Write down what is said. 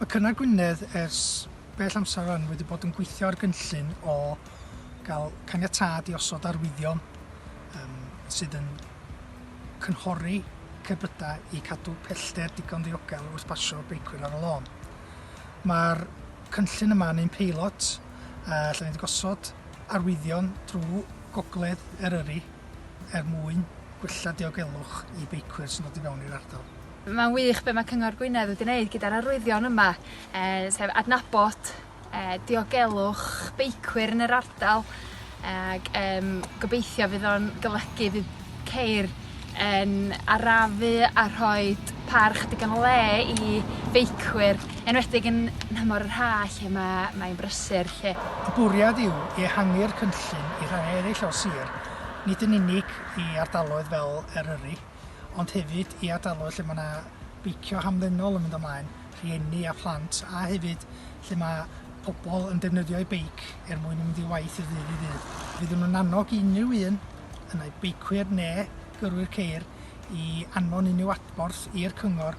Mae Cynnar Gwynedd ers bell amser rwan wedi bod yn gweithio ar gynllun o gael caniatâd i osod arwyddion um, sydd yn cynghori cerbydau i cadw pellter digon ddiogel wrth basio beicwyr ar y lôn. Mae'r cynllun yma yn ein peilot a lle ni wedi gosod arwyddion drwy gogledd Eryri er mwyn gwella diogelwch i beicwyr sy'n dod i fewn i'r ardal. Mae'n wych be mae Cyngor Gwynedd wedi wneud gyda'r arwyddion yma, e, sef adnabod e, diogelwch beicwyr yn yr ardal ac e, gobeithio fydd o'n golygu fydd ceir yn arafu a rhoi parch digon o le i feicwyr Enwedig yn nhymor yr haf lle mae mae'n brysur 'lly. Y bwriad yw ehangu'r cynllun i rhannau eraill o'r sir, nid yn unig i ardaloedd fel Eryri, ond hefyd i ardaloedd lle mae 'na beicio hamddenol yn mynd ymlaen, rhieni a phlant, a hefyd lle mae pobl yn defnyddio'u beic er mwyn mynd i waith o ddydd i ddydd. Fydd yn yn annog i unrhyw un, ynai beicwyr neu gyrwyr ceir, i anfon unrhyw adborth i'r cyngor